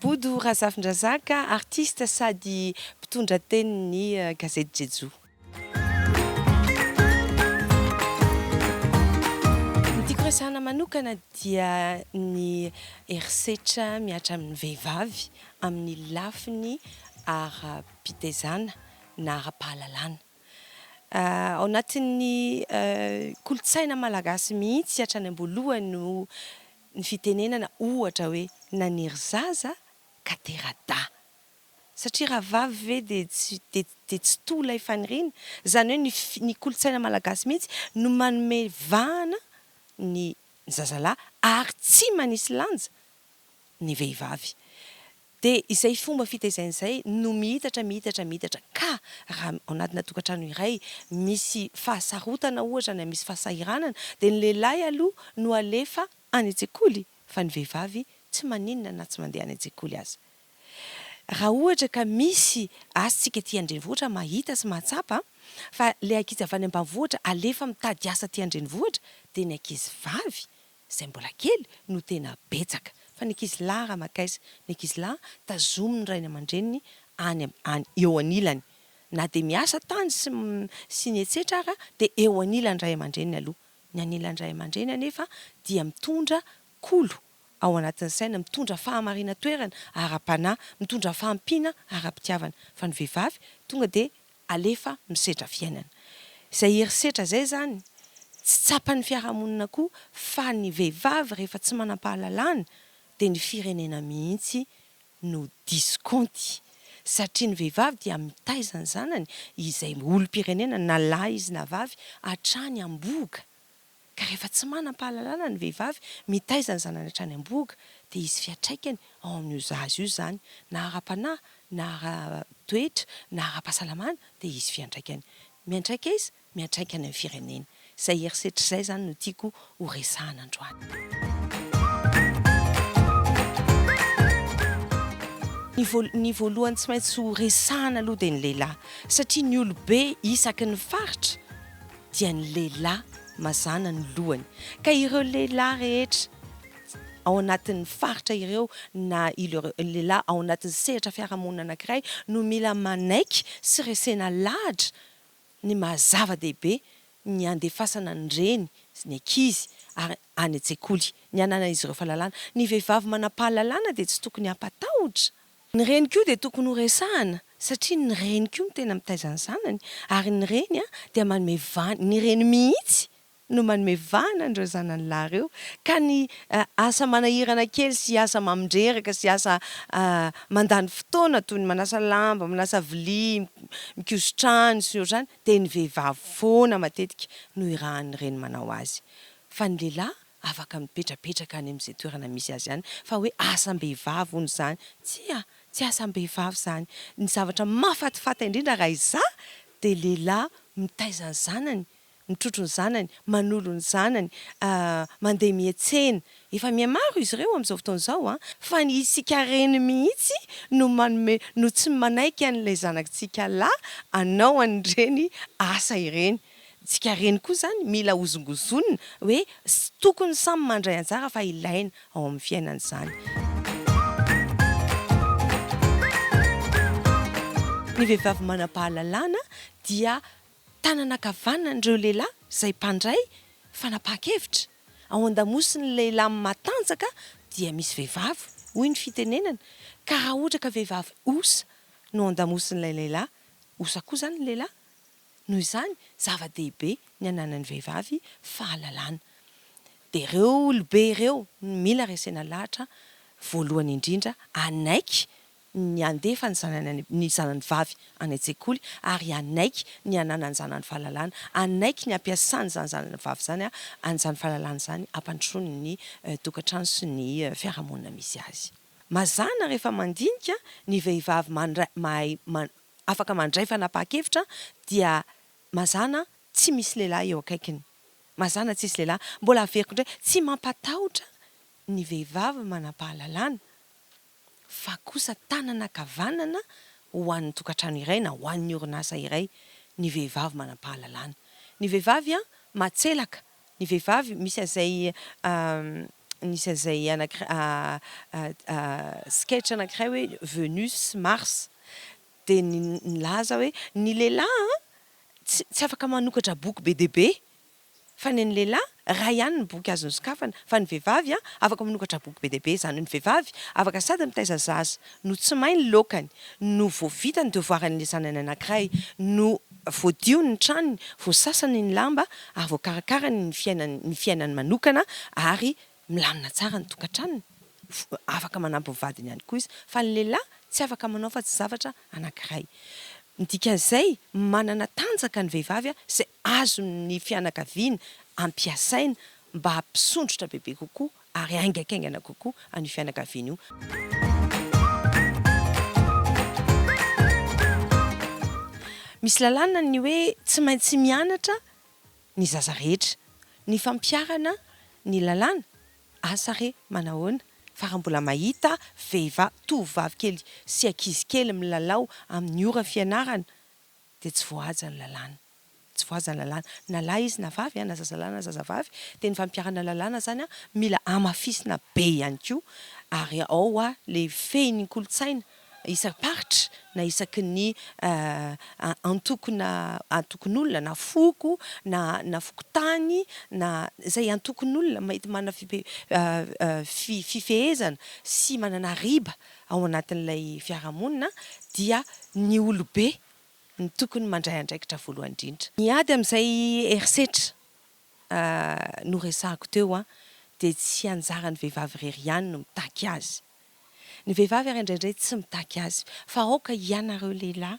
Bodo Razafindrazaka, artiste sady mpitondra tenin'ny gazety Jejoo. Ny tiako resahana manokana dia ny herisetra mihatra amin'ny vehivavy amin'ny lafiny ara-pitezana na ara-pahalalana. Ao anatin'ny kolontsaina malagasy mihitsy hatrany am-boalohany no ny fitenenana ohatra hoe naniry zaza ka tera-dahy. Satria rahavavy ve dia tsy dia dia tsy toa ilay faniriana? Izany hoe ny fi ny kolontsaina malagasy mihitsy no manome vahana ny ny zazalahy ary tsy manisy lanja ny vehivavy. Dia izay fomba fitaizana izay no miitatra miitatra miitatra ka raha ao anatina tokantrano iray misy fahasarotana ohatra na misy fahasahiranana dia ny lehilahy aloha no alefa any an-tsekoly fa ny vehivavy tsy maninona na tsy mandeha any an-tsekoly aza. Raha ohatra ka misy asintsika aty an-drenivohitra mahita sy mahatsapa fa ilay ankizy avy any ambanivohitra alefa mitady asa aty an-drenivohitra dia ny ankizy vavy izay mbola kely no tena betsaka fa ny ankizy lahy ramakais ny ankizy lahy tazomin'ny rainy aman-dreniny any any eo anilany na dia miasa tany sy sy ny etsetra ara dia eo anilan'ny ray aman-dreniny aloha ny anilan'ny ray aman-dreniny anefa dia mitondra kolo ao anatin'ny saina, mitondra fahamarinan-toerana ara-panahy, mitondra fahampiana ara-pitiavana. Fa ny vehivavy tonga dia alefa misedra fiainana. Izay herisetra izay izany, tsy tsapan'ny fiarahamonina koa fa ny vehivavy rehefa tsy manam-pahalalana dia ny firenena mihitsy no diso kaonty. Satria ny vehivavy dia mitaiza ny zanany, izay olom-pirenena na lahy izy na vavy, hatrany am-bohoka. Ka rehefa tsy manam-pahalalana ny vehivavy mitaiza ny zanany hatrany am-bohoka dia hisy fiantraikany ao amin'io zaza io izany, na ara-panahy, na ara-toetra, na ara-pahasalamana dia hisy fiantraikany. Miantraika aiza? Miantraika any amin'ny firenena. Izay herisetra izay izany no tiako ho resahana androany. Ny voalohany tsy maintsy ho resahana aloha dia ny lehilahy satria ny olobe isaky ny faritra dia ny lehilahy mazàna ny lohany ka ireo lehilahy rehetra ao anatin'ny faritra ireo na ireo lehilahy ao anatin'ny sehatra fiarahamonina anankiray no mila manaiky sy resena lahatra ny maha-zava-dehibe ny handefasana ny reny sy ny ankizy ary any an-tsekoly ny hananan'izy ireo fahalalana. Ny vehivavy manam-pahalalana dia tsy tokony hampatahotra. Ny reny koa dia tokony ho resahana satria ny reny koa no tena mitaiza ny zanany ary ny reny dia manome vahana, ny reny mihitsy no manome vahana an'ireo zanany lahy ireo ka ny asa manahirana kely sy asa mamindreraka sy asa mandany fotoana toy ny manasa lamba, manasa vilia, mikoso trano sy ny ohatr'izany dia ny vehivavy foana matetika no irahan'ny reny manao azy fa ny lehilahy afaka mipetrapetraka any amin'izay toerana misy azy any fa hoe asam-behivavy hono izany, tsia, tsy asam-behivavy izany, ny zavatra mahafatifaty indrindra raha izaho dia lehilahy mitaiza ny zanany, mitrotro ny zanany, manolo ny zanany, mandeha miantsena, efa mihamaro izy ireo amin'izao fotoana izao an, fa ny isika reny mihitsy no manome, no tsy manaiky an'ilay zanaktsika lahy hanao an'ireny asa ireny. Tsika reny koa zany mila hozongozonina hoe tsy tokony samy mandray anjara fa ilaina ao amin'ny fiainana izany. Ny vehivavy manam-pahalalana dia tanana ankavanan'ireo lehilahy izay mpandray fanapahan-kevitra. Ao an-damosin'ny lehilahy matanjaka dia misy vehivavy hoy ny fitenenana ka raha ohatra ka vehivavy osa no ao an-damosin'ilay lehilahy, osa koa izany ny lehilahy? Noho izany, zava-dehibe ny hananan'ny vehivavy fahalalana. Dia ireo olobe ireo no mila resena lahatra voalohany indrindra hanaiky ny handefa ny zanany ny zanany vavy any an-tsekoly ary hanaiky ny hananany zanany fahalalana, hanaiky ny hampiasany izany zanany vavy izany an'izany fahalalana izany hampandrosoany ny tokantrano sy ny fiarahamonina misy azy. Mazàna rehefa mandinika ny vehivavy mandray mahay afaka mandray fanapahan-kevitra dia mazàna tsy misy lehilahy eo akaikiny. Mazàna tsisy lehilahy. Mbola averiko indray, tsy mampatahotra ny vehivavy manam-pahalalana fa kosa tanana ankavanana ho an'ny tokantrano iray na ho an'ny orinasa iray ny vehivavy manam-pahalalana. Ny vehivavy matselaka, ny vehivavy misy an'izay nisy an'izay sketch anankiray hoe Venus sy Mars dia nilaza hoe ny lehilahy an tsy afaka manokatra boky be dia be fa ny an'ny lehilahy iray ihany ny boky azony sokafana fa ny vehivavy an afaka manokatra boky be dia be izany hoe ny vehivavy afaka sady mitaiza zaza no tsy may ny laokany no vao vita ny devoiran'ilay zanany anankiray no Voadio ny tranony, voasasany ny lamba ary voakarakarany ny fiainany ny fiainany manokana ary milamina tsara ny tokantranony. Afaka manampy ny vadiny ihany koa izy. Fa ny lehilahy tsy afaka manao afa-tsy zavatra anankiray. Ny dikan'izay, manana tanjaka ny vehivavy izay azon'ny fianakaviany ampiasaina mba hampisondrotra bebe kokoa ary haingankaingana kokoa an'io fianakaviana io. Misy lalàna ny hoe tsy maintsy mianatra ny zaza rehetra. Ny fampiharana ny lalàna? Asa re, manahoana fa raha mbola mahita vehivavy, tovovavy kely sy ankizy kely milalao amin'ny ora fianarana dia tsy voahaja ny lalàna. Tsy voahaja ny lalàna. Na lahy izy na vavy, na zazalahy na zazavavy, dia ny fampiharana ny lalàna izany mila hamafisina be ihany koa, ary ao ilay fehin'ny kolontsaina isam-paritra na isaky ny antoko na antokon'olona na foko na na fokontany na izay antokon'olona mety manana fifehezana sy manana riba ao anatin'ilay fiarahamonina dia ny olobe no tokony mandray andraikitra voalohany indrindra. Ny ady amin'izay herisetra noresahako teo dia tsy anjaran'ny vehivavy irery ihany no mitaky azy. Ny vehivavy ary indraindray tsy mitaky azy fa aoka ianareo lehilahy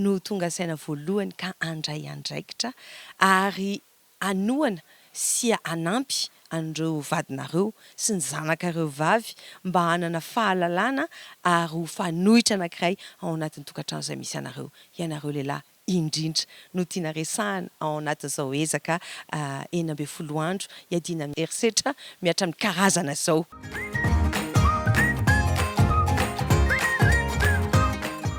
no ho tonga saina voalohany ka handray andraikitra ary hanohana sy hanampy an'ireo vadinareo sy ny zanakareo vavy mba hanana fahalalana ary ho fanoitra anankiray ao anatin'ny tokantrano izay misy anareo. Ianareo lehilahy indrindra no tiana resahana ao anatin'izao ezaka enina ambin'ny folo andro hiadiana amin'ny herisetra mihatra amin'ny karazana izao.